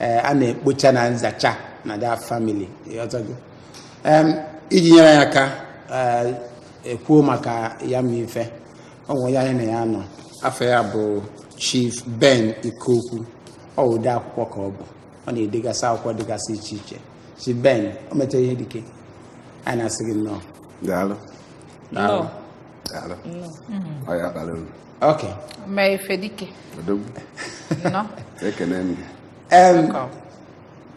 eh, a na-ekpocha na nzacha na that family iji nyere ya aka eh, ekwuo maka ya ma ife ọ bụ onye anyị na ya nọ afa ya bụ chief ben ikeokwu ọ bụ ode akwụkwọ ka ọ bụ ọ na-edegasa akwụkwọ dịgasị iche iche chief ben o metara ihe dike anyị na-asị gị nnọọ daalụ daalụ daalụ ọ ya bara uru Okay. Ome ife dike. Odogwu. Nnọọ. Ekene m gị. Em, Welcome.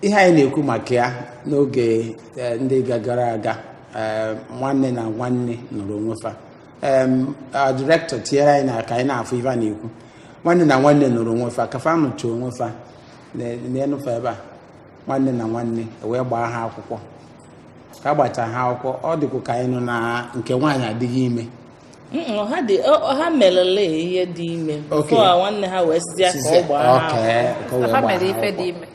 ihe anyị na-ekwu maka ya n'oge eh, ndị ga- gara aga eh, nwanne na nwanne nụrụ onwe fa Em, ah, direktọ tinyere anyị na ka anyị na-afụ ife a na-ekwu nwanne na nwanne nụrụ onwe fa ka fa nụcha onwe fa neenụ fa ebe a nwanne na nwanne wee gbaa ha akwụkwọ ka a gbachaa ha akwụkwọ ọ dịkwa ka anyị nọ na nke nwaanyị adịghị ime ha merela ihe dị ime fọ nwanne ha wee sizie ka ọ gbaa ha mere ife dị ime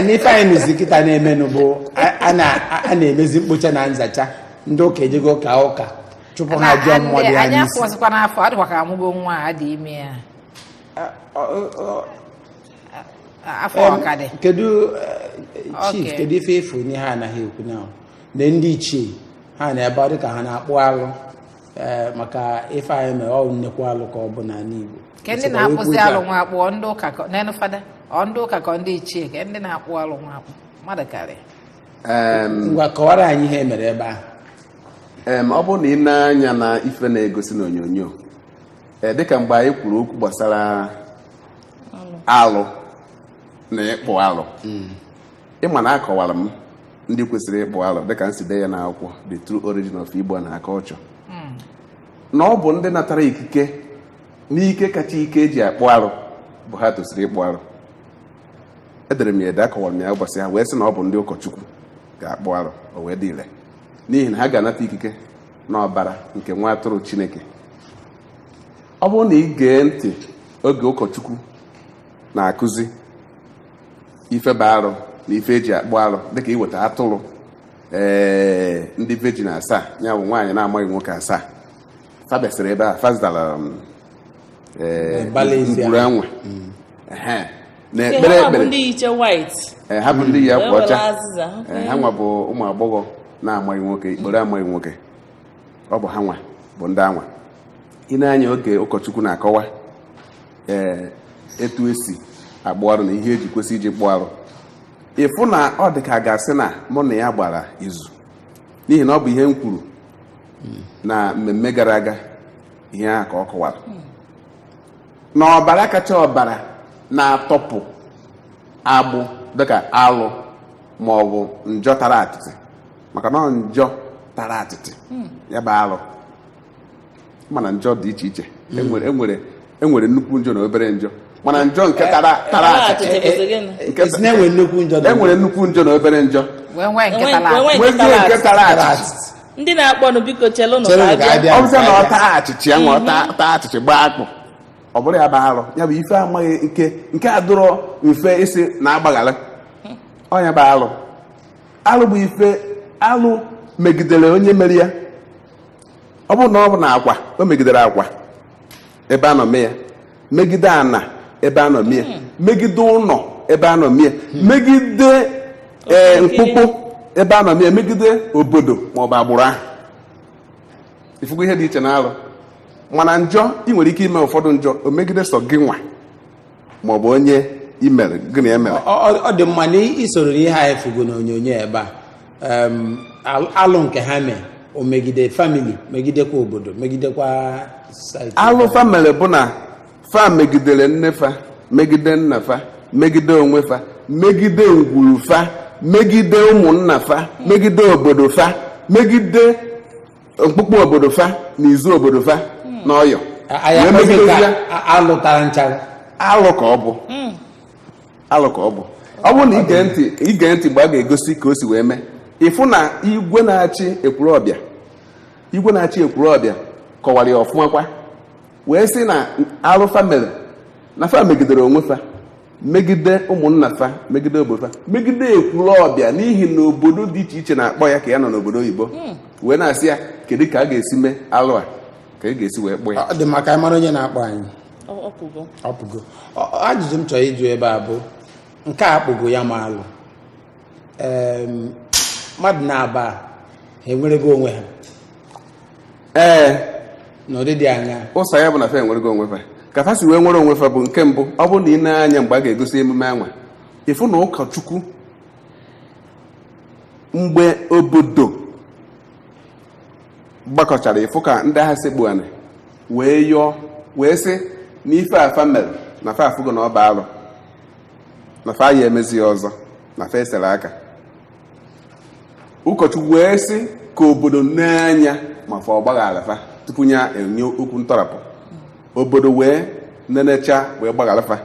n'ife anyị nụzi kịta na-emenụ bụ a na-emezi mkpocha na nzacha ndị ụka ejego ka ụka chụpụ ha ajọ mmụọ dị ha n'isi afụzikwa n'afọ ọ dịkwa ka amụgo nwa a dị ime ya afọ ọ ka dị kedu eh, chief kedu ife ị fụ n'ihe ha anaghị ekwu na na ndị ichie ha na ebe ọ dịka ha na-akpụ alụ ee maka ife anyị mere ọ nnekwu alụ ka ọ bụ n'ala Igbo ke ndị na-akpụzi alụ nwa akpụ ọ ndị ụka ka- neenụ fada ọ ndị ụka ka ọ ndị ichie ke ndị na-akpụ alụ nwa akpụ mmadụ karịa a. ngwa kọwara anyị ihe mere ebe ahụ Em, ọ bụrụ na i nee anya na ife na-egosi n'onyonyo ee dịka mgbe anyị kwuru okwu gbasara alụ na ịkpụ alụ ịma na akọwara m ndị kwesịrị ịkpụ alụ dịka m si dee ya n'akwụkwọ the true origin of Igbo and her culture na ọ bụ ndị natara ikike n'ike kacha ike eji akpụ arụ bụ ha tosiri ịkpụ arụ edere m ya ede akọwara m ya ụbọchị ahụ wee sị na ọ bụ ndị ụkọchukwu ga-akpụ arụ o wee dị ire n'ihi na ha ga-anata ikike n'ọbara nke nwa atụrụ chineke ọ bụrụ na ị gee ntị oge ụkọchukwu na-akụzi ife bụ arụ na ife eji akpụ arụ dịka iweta atụrụ ee eh, ndị virgin asaa ya bụ nwaanyị na-amaghị nwoke asaa fa bịasịrị ebe a fa zachara um, eh, ngwuru anwa mm. na-ekpe ekpere ha bụ ndị yi eh, akwa ọcha ha nwa bụ ụmụ agbọghọ na-amaghị nwoke ikporo amaghị nwoke ọ bụ ha nwa bụ ndị anwa i nee anya oge ụkọchukwu na-akọwa ee etu esi akpụ arụ na ihe eji kwesị iji kpụọ arụ ịfụ na ọ dị ka a ga-asị na mụ na ya gbara izu n'ihi na ọ bụ ihe m kwuru na mmemme gara aga ihe ahụ ka ọ kọwara na ọbara kacha ọbara na-atọpụ agbụ dịka alụ ma ọ bụ njọ tara atịtị maka na ọ njọ tara atịtị ya bụ alụ mana njọ dị iche iche enwere enwere enwere nnukwu njọ na obere njọ mana njọ nke tara tara Tara achịchị achịchị. Eh, eh, eh, nke- Esi na enwe nnukwu njọ na enwere nnukwu njọ na obere njọ wee nwee Enwe- nke tala enwe- nwee njọ nke tara achịchị ndị na-akpọnụ biko chelụnụ Chere ka ka a abịa bịa. ọ bụzịa na ọ taa achịchị ya nwa ọ taa- taa achịchị gbaa akpụ ọ bụrụ ya bụ arụ ya bụ ife amaghị nke nke adụrọ mfe isi na-agbaghara ọ nya bụ arụ arụ bụ ife arụ megidere onye mere ya ọ bụrụ na ọ bụ n'akwa o megidere akwa ebe a nọ mee ya megide ana ebe a nọ mee ya megide ụnọ ebe a nọ mee ya megide ee mkpụkpụ ebe a nọ mee ya megide obodo ma ọ bụ agbụrụ ahụ ifugo ihe dị iche na alụ mana njọ ị nwere ike ime ụfọdụ njọ o megide sọ gị nwa ma ọ bụ onye i mere gị na ya mere Ọ- ọ ọ dị mma na i soro n'ihe anyị fugo n'onyonyo ebe a em, al- alụ nke ha mee o megide famili megidekwa obodo megidekwa society. alụ fa mere bụ na fa megidere nne fa megide nna fa megide onwe fa megide ngwuru fa megide ụmụnna fa megide obodo fa megide mkpụkpụ obodo fa na izu obodo fa na ọyọ Anyị Wee akpọzi nke megidezi ya. a- a- alụ tara nchara alụ ka ọ bụ alụ ka ọ bụ ọ bụrụ na i gee ntị i gee ntị mgbe a ga-egosi ka o si wee mee ịfụ na igwe na-achị Ekwulobia igwe na-achị Ekwulobia kọwara ya ọfụma kwa wee sị na alụ fa mere na fa megidere onwe fa megide ụmụnna fa megide obodo fa megide Ekwulobia n'ihi na obodo dị iche iche na-akpọ ya ka ya nọ n'obodo oyibo wee na-asị ya kedu ka a ga-esi mee alụ a ka a ga-esi wee kpụọ ya ọ dị mma ka anyị mara onye na-akpọ anyị Ọ- ọ pụgo. ọ pụgo Ọ- ọ- ajụjụ m chọrọ ịjụ ebe a bụ nke a a kpụgo ya bụ alụ Em, mmadụ naabọ a ha enwerego onwe ha ee n'ụdị dị aṅaa ụsa ya bụ na fa enwerego onwe fa ka fa si wee nwere onwe fa bụ nke mbụ ọ bụrụ na i nee anya mgbe a ga-egosi emume anwa ịfụ na ụkọchukwu mgbe obodo gbakọchara ịfụ ka ndị ahụ sekpu anị wee yọọ wee sị na ife a fa mere na fa afụgo na ọ bụ alụ na fa ya emezi ya ọzọ na fa esere aka ụkọchukwu wee sị ka obodo nee anya ma fa agbaghara fa tupu ya enye okwu ntọrapụ obodo wee nenecha wee gbaghara fa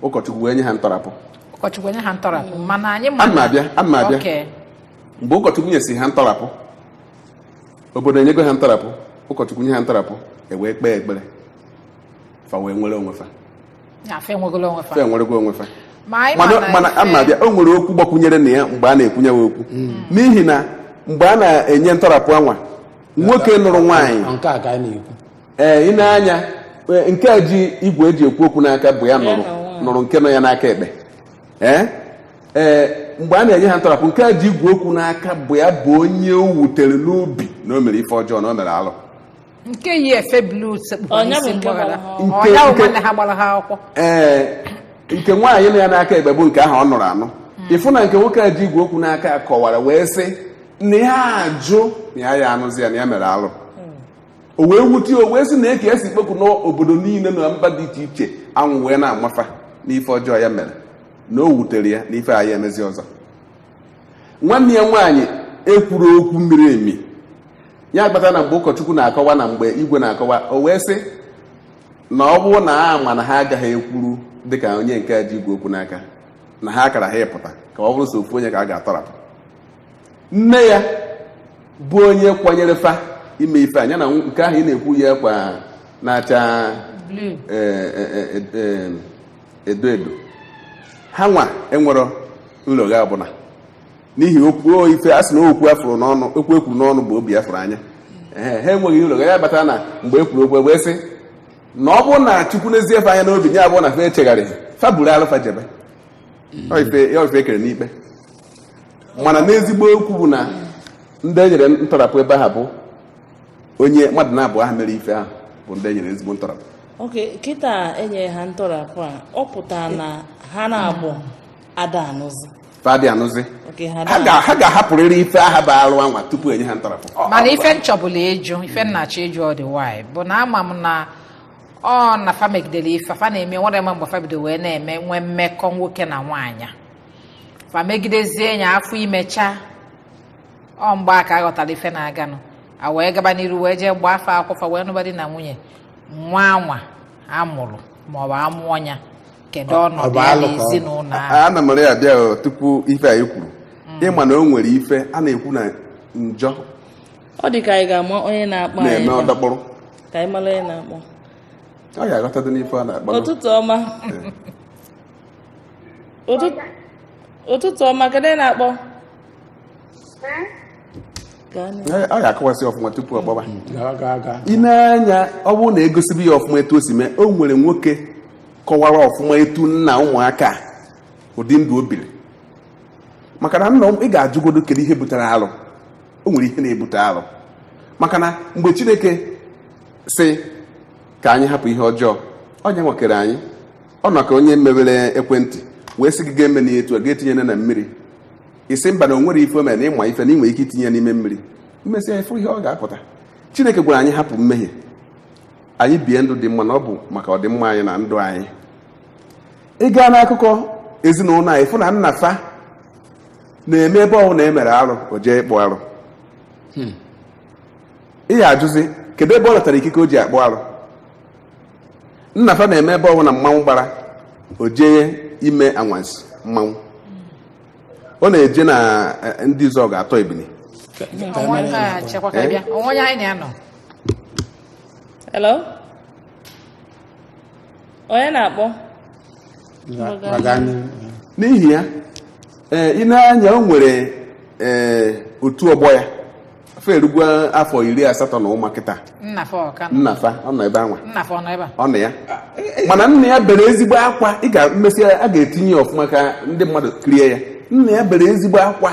ụkọchukwu wee nye ha ntọrapụ ụkọchukwu nye ha ntọrapụ mana anyị ma Ana m abịa, ana m abịa. Okay. mgbe ụkọchukwu nyesi ha ntọrapụ obodo enyego ha ntọrapụ ụkọchukwu nye ha ntọrapụ e wee kpee ekpere fa wee nwere onwe fa Ya, fe enwegolo onwe fa. fe enwerego onwe fa Ma anyị mana ma na mana ife- ana m abịa o nwere okwu gbakwunyere na ya mgbe a na-ekwunye ya okwu n'ihi na mgbe a na-enye ntọrapụ anwa nwoke nụrụ nwaanyị Ọ nke a ka anyị na-ekwu ee i nee anya ee, nke a ji igwe e ji ekwu okwu n'aka bụ ya nụrụ nụrụ nke nọ ya n'aka ekpe ee ee mgbe a na-enye ha ntọrapụ nke a ji igwe okwu n'aka bụ ya bụ onye o wutere n'obi na o mere ife ọjọọ na o mere alụ nke yi efe blu sekpukwa Ọ nya bụ n'isi nke mgbaghara gbara ha ọ nya bụ Nke- nwanne ha gbara ha akwụkwọ ee nke nwaanyị nọ ya n'aka ekpe bụ nke ahụ ọ nụrụ anụ ị fụ na nke nwoke a ji igwe okwu n'aka ya kọwara wee sị na ya ajụ na ya aya anụzi ya na ya mere alụ o wee wute ya, o wee sị na eke e si kpekwu n'obodo niile na mba dị iche iche anwa wee na-agwa fa n'ife ọjọọ ya mere na o wutere ya na ife aya emezi ọzọ nwanne ya nwaanyị ekwuro okwu miri emi ya kpatara na mgbe ụkọchukwu na-akọwa na mgbe igwe na-akọwa o wee sị na ọ bụrụ na a ma na ha agaghị ekwuru dịka onye nke ji igwe okwu n'aka na ha akaraha ịpụta ka ọ bụrụ so ofu onye ka a ga-atọrapụ nne ya bụ onye kwanyere fa ime ife a ya na nke ahụ ị na-ekwu yi akwa na-acha Blue. eh, eh, eh, eh, edo edo ha nwa enwero nlogha ọbụla n'ihi okwu o ife a sị na okwu a fụrụ n'ọnụ okwu e kwuru n'ọnụ bụ obi a fụrụ anya Ehe, ha enweghị nlogha ya kpatara na mgbe e kwuru okwu wee sị na ọ bụrụ na chukwu nezie fa anya n'obi ya abụrụ na fe echegharịghị fa buru alụ fa jebe Ọ ife- ya ife e kpere n'ikpe mana n'ezigbo okwu bụ na ndị e nyere ntọrapụ ebe aha bụ onye mmadụ naabọ aha mere ife ahụ bụ ndị e nyere ezigbo ntọrapụ oke kịta e nyere ha ntọrapụ a ọ pụtara na ha naabọ ada anụzi fa adị anụzi Oke, ha ha ga- ha ga-ahapụrịrị ife aha bụ arụ anwa tupu e nye ha ntọrapụ Ọ- mana ọ- ife m chọbulu ịjụ ife m na-achọ ịjụ ọ dị nwanyị bụ na ama m na ọ na fa megidere ife fa na-eme nwere ma mgbe fa bido wee na-eme nwee mmekọ nwoke na nwaanyị fa megidezie ya afọ ime chaa ọ mgbe a ka a ghọtara ife na-aganụ a wee gaba n'iru wee jee gbaa fa akwụkwọ fa wee nụba di na nwunye nwa anwa a mụrụ maọbụ a mụọ ya kedu Ọ- ọ ọnọdụ bụ ya alụ ka ọ- n'ezinụlọ A- ahụ ana m ya bịa o, tupu ife anyị kwuru ịma na o nwere ife a na-ekwu na njọ ọ dị ka anyị ga-ama onye na-akpọ anyị na-eme na- ọdọkpụrụ ka anyị mara onye na-akpọ ọ ga-aghọtadị n'ife a na-akpọ ụtụtụ ọma Ụtụtụ- ụtụtụ ọma kedu onye na-akpọ Gaa n'ihu. Ee, ọ ga-akọwasị ọfụma tupu ọ gbaba gaa gaa gaa ị na-anụ ya ọ bụrụ na egosibi ya ọfụma etu o si mee o nwere nwoke kọwara ọfụma etu nna ụmụaka a, ụdị ndụ o biri maka na nna ị ga-ajụgodo kedu ihe butere alụ o nwere ihe na-ebute alụ maka na mgbe chineke sị ka anyị hapụ ihe ọjọọ onye nwa kere anyị ọ nọ ka onye mebere ekwentị wee sị gị ga-eme na etu a ga-etinye na mmiri ị sị mba na o nwere ife mere na ị ma ife na ị nwere ike itinye ya n'ime mmiri emesịa ị fụ ihe ọ ga-apụta chineke gwara anyị hapụ mmehie anyị bie ndụ dị mma na ọ bụ maka ọdịmma anyị na ndụ anyị ị gaa n'akụkọ ezinụlọ anyị fụ na nna fa na-eme ebe ọ hụụ na e mere arụ o jee ịkpụ arụ ị ya ajụzi kedu ebe ọ natara ikike o ji akpụ arụ nna fa na-eme ebe ọ hụụ na mmanwụ gbara o jee ime anwansi mmanwụ ọ na-eje na eh, Ndị Izuọgụ atọ ebili Ka- ka- ka- onwe onye anyị na-anọ Hello? Onye na-akpọ? n'ihi ya ee eh, ị na-anụ ya o nwere ee eh, otu ọgbọ ya afọ erugwo afọ iri asatọ n'ụwa kịta nna fa ọ nọ ebe anwa ọ nọ ya mana nna ya bere ezigbo akwa ị ga-emesi a ga-etinye ya ọfụma ka ndị mmadụ kirie ya nna ya bere ezigbo akwa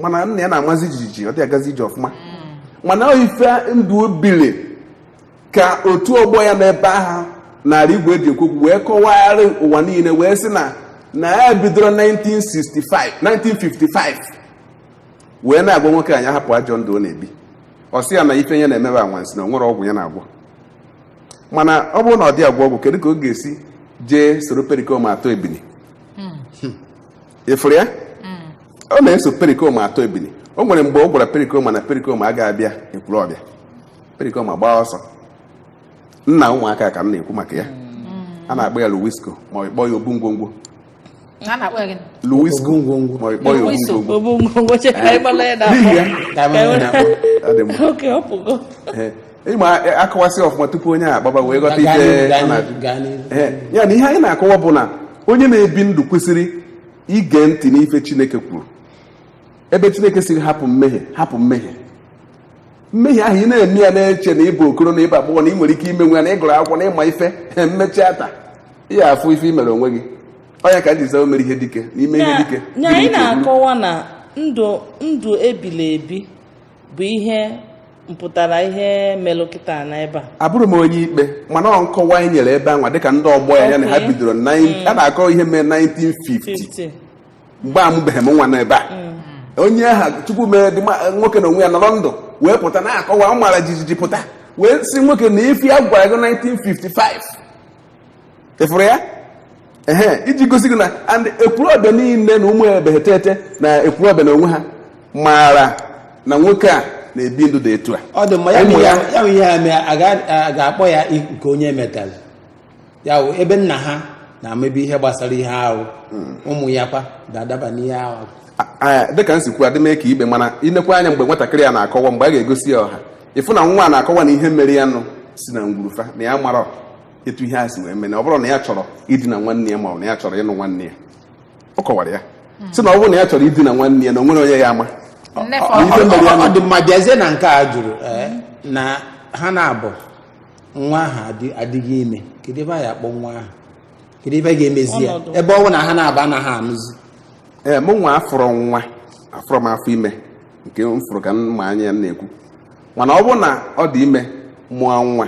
mana nna ya na-amazi jijiji ọ dị agazi ije ọfụma mana ọ ife ndụ o bili ka otu ọgbọ ya n'ebe ahụ narị igwe eji ekwu okwu wee kọwagharị ụwa niile wee sị na ya bidoro 1955 wee na-agwa nwoke a ya hapụ ajọ ndụ ọ na-ebi ọ sị ya na ife ya na-eme bụ anwansi na o nwerọ ọgwụ ya na-agwọ mana ọ bụrụ na ọ dị agwọ ọgwụ kedu ka ọ ga-esi jee soro perikoma atọ ebili ị fụrụ ya ọ na-eso perikoma atọ ebili o nwere mgbe ọ gwara perikoma na perikoma agaghị abịa Ekwulọbịa perikoma gbaa ọsọ nna ụmụaka ka m na-ekwu maka ya a na-akpọ ya luwisko ma a kpọọ ya obu ngwongwo a na-akpọ ya gịnị? luwisko Obu ngwongwo. ma a kpọọ ya obu Luwiso. ngwongwo Obu ngwongwo che ka anyị gbala ya na N'ihi ya, ka anyị mara na- ọ dị mma. Oke, ọ pụgo. Ee, ịma akọwasị ọfụma tupu onye a gbaba wee ghọta ife a na-ajụ Ee, ya na ihe anyị na-akọwa bụ na onye na-ebi ndụ kwesịrị ige ntị n'ife chineke kwuru ebe chineke siri hapụ mmehie hapụ mmehie mmehie ahụ ị na-eme ya na-eche na ịbụ okoro na ịbụ agbọghọ na ị nwere ike imenwu ya na ịgụrụ akwụkwọ na ịma ife mmechaa taa ihe afụ ife i mere onwe gị ọ nya ka m ji aza mere ihe dike n'ime ihe dike na anyị na-akọwa na ndụ ndụ ebili ebi bụ ihe mpụtara ihe melụ kịta na ebe a abụrọ m onye ikpe mana ọ nkọwa anyị nyere ebe anwa dịka ndị ọgbọ ya ya na ha Okay. bidoro na a na-akọ ihe mere 1950 50 mgbe a mụbeghị m nwa n'ebe a onye ahụ chukwu mere dị ma- nwoke na onwe ya nọrọ ndụ wee pụta na-akọwa ọ mara jijiji pụta wee sị nwoke na ife ya gwara gị 1955 ịfụrụ ya ehe iji gosi gị na and ekwulọbịa niile na ụmụ ebeghị tete na ekwulọbịa na onwe ha maara na nwoke a na-ebi ndụ dị etu a ọ dị mma ya bụ Ụmụ ihe ya. ya bụ ihe a mee a ga- a ga-akpọ ya i- nke onye metara ya bụ ebe nna ha na-emebi ihe gbasara ihe ahụ ụmụ ya kwa ga-adaba n'ihe ahụ A- a- dịka m si kwuo adị m ekpe ikpe mana ilekwa anya mgbe nwatakịrị ya na-akọwa mgbe a ga-egosi ya ọha ịfụ na nwa a na-akọwa na ihe mere ya nụ si na ngwuru fa na ya mara etu ihe a si wee mee na ọ bụrụ na ya chọrọ idina nwanne ya ma ọ bụ na ya chọrọ ịnụ nwanne ya ọ kọwara ya si na ọ bụrụ na ya chọrọ idina nwanne ya na o nwerọ onye ya-ama Nnefe Ọ- ọ- ọ- ọ- ọ dị mma bịazie na nke a jụrụ ee, na ha naabọ nwa ahụ adị- adịghị ime kedu ebe a ya-akpọ nwa ahụ kedu ebe a ga-emezi ya Ọnọdụ. ebe ọ bụ na ha naabọ anaghị anụzi ee mụ nwa afụrọ nwa afụrọ m afọ ime nke m fụrụ ka m ma anya ya m na-ekwu mana ọ bụrụ na ọ dị ime mụọ nwa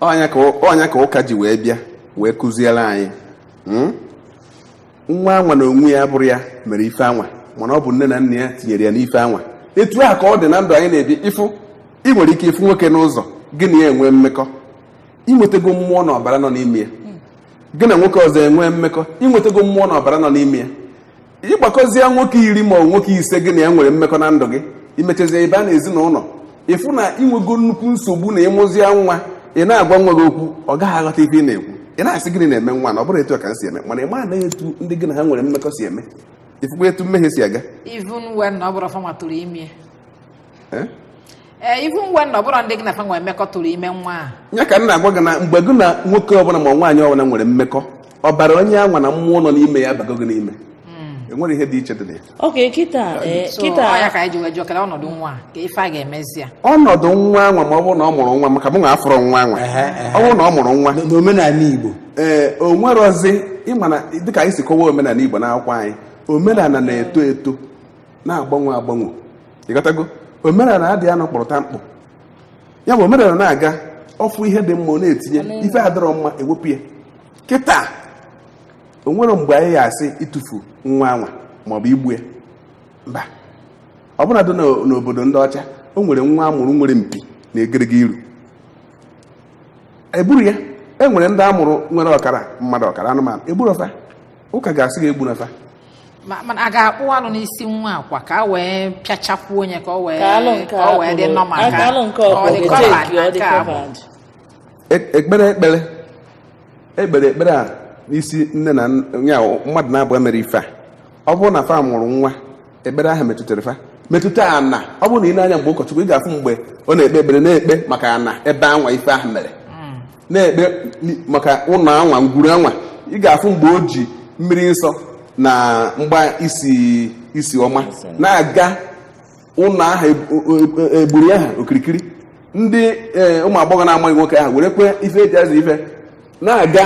ọ nya ka ọ- ọ nya ka ụka ji wee bịa wee kụziere anyị Mm? nwa anwa na onwe ya abụrọ ya mere ife anwa mana ọ bụ nne na nna ya tinyere ya n'ife anwa etu a ka ọ dị na ndụ anyị na-ebi ịfụ ị nwere ike ịfụ nwoke n'ụzọ gị na ya enwee mmekọ inwetego mmụọ na ọbara nọ n'ime ya gị na nwoke ọzọ enwee mmekọ inwetego mmụọ na ọbara nọ n'ime ya ịgbakọzie nwoke iri ma ọ nwoke ise gị na ya nwere mmekọ na ndụ gị imechazie ị bịa na ezinụlọ ịfụ na ịnwego nnukwu nsogbu na ịmụzie nwa ị na-agwa nwa gị okwu ọ gaghị aghọta ife ị na-ekwu ị na-asị gịnị na-eme nwa a na ọ bụrọ etu a ka m si eme mana ị maghị etu ndị gị na ha nwere mmekọ si eme ịfụkwa etu mmehie si aga even when ọ bụrọ fa nwa tụrụ ime Eh? ee even when na ọbụrọ ndị gị na fa nwere mmekọ tụrụ ime nwa a ya ka m na-agwa gị na mgbe gị na nwoke ọbụla ma nwaanyị ọbụla nwere mmekọ ọbara onye anwa na mmụọ nọ n'ime ya abago gị n'ime enwere ihe dị iche dị na ya okay kịta ee, so ọ ya kịta ka anyị ji wee jụọ kele ọnọdụ nwa a kee ife a ga-emezi ya ọnọdụ nwa anwa ma ọ bụrụ na ọ mụrụ nwa maka mụ nwa afụrọ nwa anwa Ehe, ehe. ọ bụrụ na ọ mụrụ nwa N- n'omenala igbo ee o nwerọzi ịma na dịka anyị si kọwa omenala igbo n'akwụkwọ anyị omenala na-eto eto na-agbanwe agbanwe ịghọtago omenala adịghị anọ kpọrọta mkpụ ya bụ omenala na-aga ọ fụ ihe dị mma ọ na-etinye ife adịrọ mma ewepụ ya kịta o nwere mgbe anyị ya-asị ịtụfu nwa anwa maọbụ igbu ya mba ọ bụla dị n'o- n'obodo ndị ọcha o nwere nwa a mụrụ nwere mpi na egedege iru egburu ya e nwere ndị a mụrụ nwere ọkara mmadụ ọkara anụmanụ egburu fa ụka ga-asị gị egbuna fa Ma- mana a ga-akpụ alụ n'isi nwa akwa ka a wee pịachakwuo onye ka o wee Ka alụ nke ka o wee dị akpụrụ- normal a- ka alụ nke ọ dị ọkpụrụ covered eteki, na ọ dị nke a bụ. covered. E- ekpere ekpere ekpere ekpere a n'isi nne na nn- ya wụ mmadụ na-abụọ mere ife a ọ bụrụ na fa mụrụ nwa ekpere ahụ metụtara fa metụta ana ọ bụrụ na ị nee anya mgbe ụkọchukwu ị ga-afụ mgbe ọ na-ekpe ekpere na-ekpe maka ana ebe anwa ife ahụ mere na-ekpe maka ụnọ anwa ngwuru anwa ị ga-afụ mgbe o ji mmiri nsọ na mgba isi ọma na-aga ụnọ aha ngwuru aha okirikiri ndị ụmụ agbọghọ na-amaghị nwoke ahụ werekwa ife e ji aza ife na-aga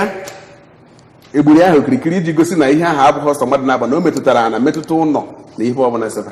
ngwuru ahụ okirikiri iji gosi na ihe ahụ abụghị sọ mmadụ naabọ na o metụtara ana metụta ụnọ na ihe ọbụla sebe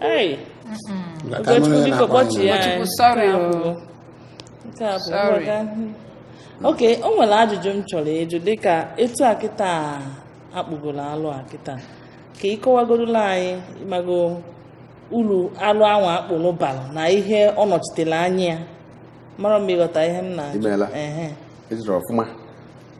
Hey, Maka ka Ugochukwu anụrụ ya biko na-akpọ kpọchi anyị. ya. Ugochukwu, sorry o. Nke a bụ Sorry. mgbada. Ok, o nwere ajụjụ m chọrọ ịjụ dịka etu a kịta akpụgoro alụ a kịta ka ị kọwagorola anyị ịmago uru alụ anwa a kpụrụ bara na ihe ọ nọchitere anya amarọ m ma ịghọta ihe m na-ajụ Imeela. Ehe. Ị jụrụ ọfụma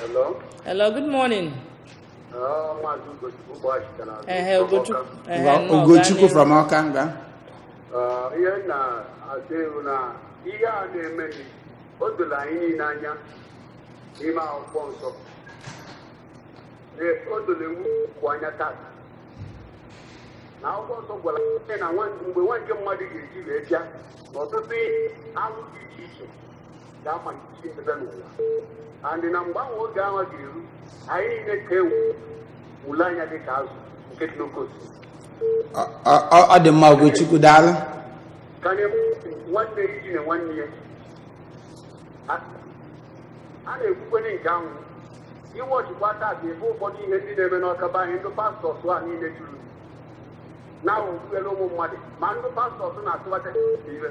Hello. Hello, good morning. Oh, Maazị Ugochukwu bụ Ashita na Ehe, Ugochukwu. Ehe, Wa- nnọọ, Ugochukwu gaa n'ihu. from Ọka nga Ah, ihe m na-asị bụ na ihe a na-emenụ, o doro anyị niile anya n'ime akwụkwọ nsọ Ee, o doro ewu kwụ anya taa na akwụkwọ nsọ gwara anyị na nwa- mgbe nwa nke mmadụ ga-eji wee bịa na ọtụtụ ihe anwụ dị iche iche ga-amalite ebe n'ụwa and na mgbe anwa oge anwa ga-eru anyị niile ka ewu ule anya dị ka azụ nke dị n'oke osimiri Ọ- ọ- ọ- ọ dị mma Ugochukwu daalụ karịa nwanne idina nwanne ya a a na-ekwukwere nke ahụ iwe ọchịkwa taa dị ebe ụfọdụ ihe ndị na-eme n'Ọka be anyị ndị pastors a niile juru na okpukpere ụmụ mmadụ ma ndị pastors na-atụba ime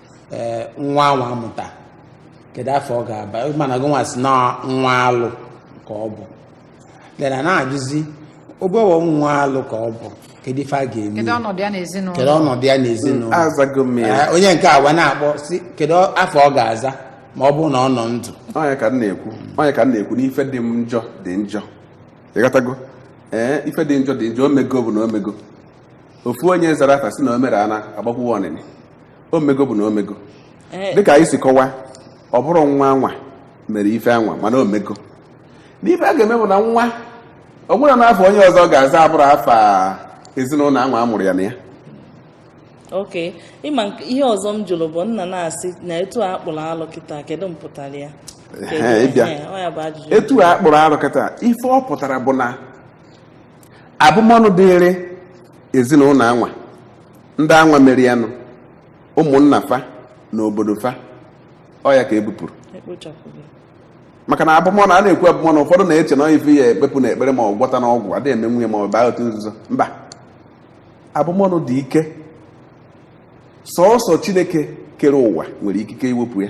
ee nwa anwa amụta kedu afa ọ ga-aba mana gị nwa si na nwa alụ ka ọ bụ then a na-ajụzi ọ bụwa nwa alụ ka ọ bụ kedu ife a ga-eme kedu ọnọdụ ya n'ezinụlọ kedu ọnọdụ ya n'ezinụlọ azago m ya Ee, onye nke anwa na-akpọ si kedu afa ọ ga-aza ma ọ bụrụ na ọ nọ ndụ ọ nya ka m na-ekwu na ife dị njọ dị njọ ịghọtago ee ife dị njọ dị njọ o mego bụ na o mego ofu onye zara afa si na o mere ana agbakwuwe ọnịnị o mego bụ na o mego Ee, dịka anyị si kọwa ọ bụrọ nwa anwa mere ife anwa mana o mego n'ife a ga-eme bụ na nwa ọ bụrụ na afa onye ọzọ ga-aza abụrọ afa ezinụlọ anwa a mụrụ ya na ya ok ịma nke- ihe ọzọ m jụrụ bụ nna na-asị na etu a kpụrụ alụ kịta kedu mpụtara ya Ehe, ị bịa. Ehe, ọ ya bụ ajụjụ etu a kpụrụ alụ kịta ife ọ pụtara bụ na abụmọnụ dịrị ezinụlọ anwa ndị anwa mere ya na ụmụnna fa na obodo fa ọ ya ka e bupụrụ maka na abụmọnụ a na-ekwu abụmọnụ ụfọdụ na-eche na ọ ife ya ekpepụ na ekpere ma ọ gwọta na ọgwụ adịghị eme nya ma ọ bụ baa otu nzuzo mba abụmọnụ dị ike sọọsọ chineke kere ụwa nwere ikike iwepụ ya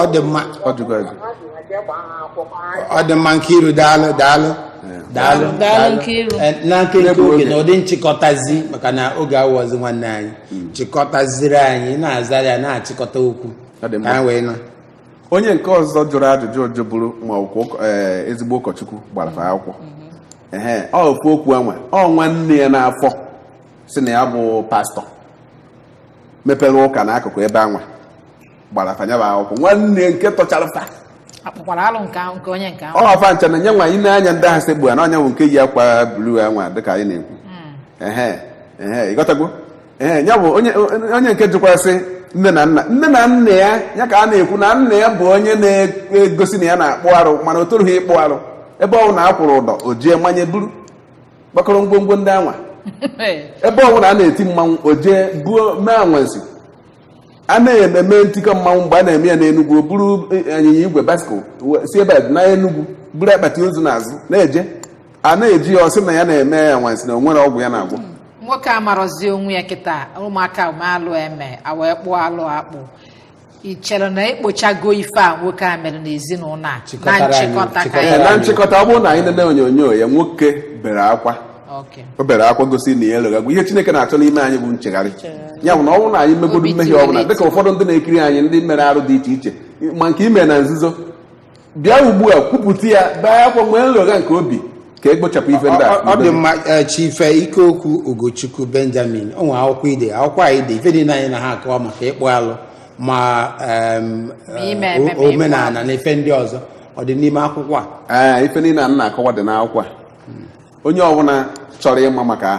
ọ dị mma ọ dị mma Nkiru daalụ daalụ daalụ Daalụ Nkiru. Eh, na nkenke oge na ụdị nchịkọtazi maka na oge awọzi nwanne anyị chịkọtazịrị anyị ị na-azara ya na-achịkọta okwu Ọ dị mma. ka anyị wee na onye nke ọzọ jụrụ ajụjụ jụbụrụ ma ọ bụ ezigbo ụkọchukwu gbara fa akwụkwọ ehe ọ ofu okwu anwa ọ nwanne ya n'afọ si na ya bụ pastọ mepere ụka n'akụkụ ebe anwa gbara fa ya bụ akwụkwọ nwanne nke tọchara fa akpụkwara alụ nke ahụ nke onye nke ahụ ọ fa ncha na nye nwa anyị na-anya ndị ahụ sekpu ana ọ nya bụ nke yi akwa blu anwa dịka anyị na-ekwu ehe ehe ịghọtago ee ya bụ onye onye nke jụkwasị nne na nna nne na nna ya ya ka a na-ekwu na nna ya bụ onye na-egosi na ya na-akpụ arụ mana o torughị ịkpụ arụ ebe ọ bụna a kwụrụ ụdọ o jee manye buru kpakọrọ ngwongwo ndị anwa ebe ọ bụna a na-eti mmanwụ o jee buo mee anwansi a na-eme ememe ntikọ mmanwụ mgbe a na-eme ya n'Enugwu o buru anyịnya igwe basikụl si ebe a na Enugwu buru akpati ozu n'azụ na-eje a na-eji ya ọ sị na ya na-eme anwansi na o nwere ọgwụ ya na-agwọ nwoke amarọzi onwe ya kịta ụmụaka mee alụ eme e wee kpụọ alụ akpụ ị chere na e kpochago ife a nwoke a mere n'ezinụlọ a na Chịkọtara anyị, nchịkọta ka chịkọtara Ee, anyị na nchịkọta ọ bụrụ na anyị nene onyonyo ya nwoke bere akwa o bere akwa gosi na ya eloghagwu ihe chineke na-achọ n'ime anyị bụ nchegharị ya bụ na ọ bụrụ na anyị megodo mmehie ọbụla dịka ụfọdụ ndị na-ekiri anyị ndị mere arụ dị iche iche ma nke ime na nzuzo bịa ugbu a kwupụta ya bee akwa nwee nlogha nke obi ka e kpochapụ ife ndị a ọ dị mma eh, chief ikeokwu ugochukwu benjamin o nwere akwụkwọ i de akwụkwọ i de ife niile a anyị na ha akọwa maka ịkpụ alụ ma em, eh, ime ememe o- omenala na ife ndị ọzọ ọ dị n'ime akwụkwọ a ee ife niile a m na-akọwa dị n'akwụkwọ a onye ọbụla chọrọ ịma maka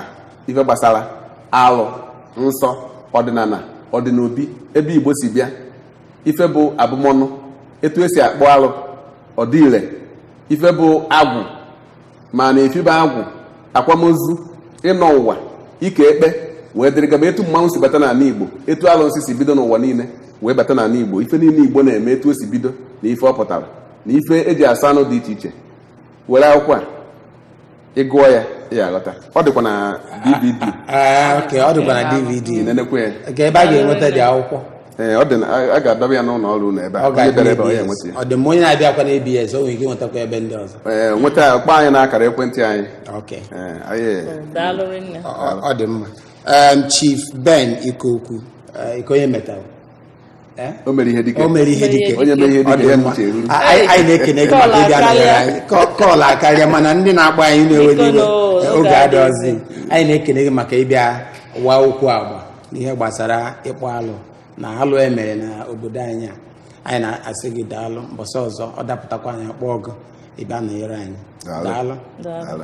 ife gbasara alụ nsọ ọdịnala ọdịnobi ebe igbo si bịa ife bụ abụmọnụ etu e si akpụ alụ ọ dị ire ife bụ agwụ ma na efibe agwụ akwamozu ịnọ ụwa ike ekpe wee dịrị gaba etu mmanwụ si bata n'ala igbo etu alụnsị si bido n'ụwa niile wee bata n'ala igbo ife niile igbo na-eme etu o si bido na ife ọ pụtara na ife e ji asọ anụ dị iche iche were akwụkwọ a ị gụọ ya ị ya-aghọta ọ dịkwa na dvd Ah, ok ọ dịkwa na dvd ị nenekwa ya kee ebe a ga-enweta the akwụkwọ ee ọ dị na a- a ga-adọba ya n'ụlọ ọrụ unu ebe a ọ onye bịara ebe ọ ya ga-adị enweta ya ọ dị mma onye na-abịakwa na abs o nwere ike nwetakwa ebe ndị ọzọ ee nweta ya kpọọ anyị n'akara ekwentị anyị ok ee anyị daalụ rinne ọ ọ dị mma Em, chief ben ikeokwu eh, ike onye metal Eh? o mere ihe dike o mere ihe dike onye mere ihe Ọ dike dị ya mma. n'uche eru A- anyị anyị na-ekene gị maka ịbịa nọnyere anyị Kọ- call akarịa mana ndị na-akpọ anyị unu ewena iwe Biko nụ, oge oge adịghịzi. adịghịzi anyị na-ekene gị maka ịbịa wa okwu agba n'ihe gbasara ịkpụ alụ na alụ e mere na obodo anyị a anyị na-asị gị daalụ mbọsị ọzọ ọ dapụtakwa anyị akpọọ gị ị bịa nọnyere anyị Daalụ. daalụ Daalụ. Daalụ.